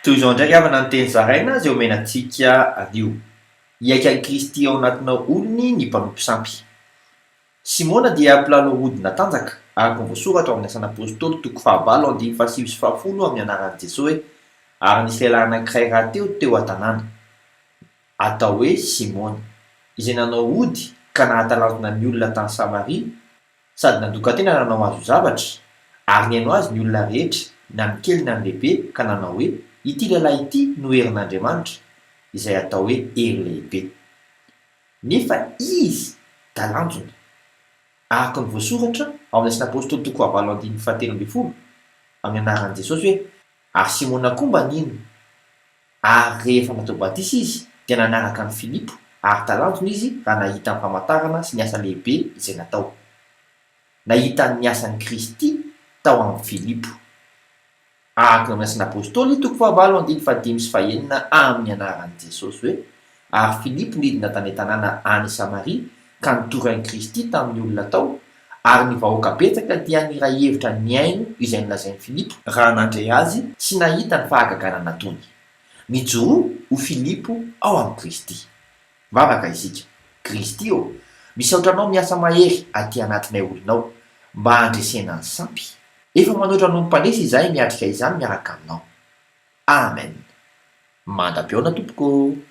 Toy izao indray havana ny teny zaraina izay omena antsika anio, Hiaiky an'i Kristy ao anatinao hono ny mpanompo sampy. Simona dia mpilalao ody natanjaka, araka ny voasoratra ao amin'ny Asan'ny Apôstôly toko fahavalo andininy fahasivy sy fahafolo amin'ny anaran'i Jesoa hoe, Ary nisy lehilahy anankiray rahateo teo an-tanàna, atao hoe Simona, izay nanao ody ka nahatalanjona ny olona tany Samaria, Sady nandokan-tena nanao azy ho zavatra, ary nihaino azy ny olona rehetra, na ny kely na ny lehibe, ka nanao hoe, Ity lehilahy ity no herin'Andriamanitra, izay atao hoe hery lehibe. Nefa izy talanjona. Araka ny voasoratra ao amin'ny Asan'Apôstôly toko fahavalo andininy fahatelo ambin'ny folo, amin'ny anaran'i Jesosy hoe, Ary Simona koa mba nino, ary rehefa natao batisa izy, dia nanaraka an'i Filipo, ary talanjona izy raha nahita ny famantarana sy ny asa lehibe izay natao. Nahita ny asan'i Kristy tao amin'i Filipo. Araka ny orin'asan'apostoly, toko fahavalo andiny fahadimy sy fahenina amin'ny anaran'i Jesosy hoe, Ary Filipo nidina tany an-tanàna any Samaria ka nitory an'i Kristy tamin'ny olona tao, ary ny vahoaka betsaka dia niray hevitra nihaino izay nolazain'i Filipo, raha nandre azy sy nahita ny fahagagana nataony. Nijoroa ho Filipo ao amin'i Kristy. Mivavaka isika. Kristy ô, misaotra Anao miasa mahery aty anatinay olonao, mba handresena ny sampy. Efa manoatra Anao ny mpandresy izahay miatrika izany miaraka Aminao. Amen. Manda am-peona tompoko ô.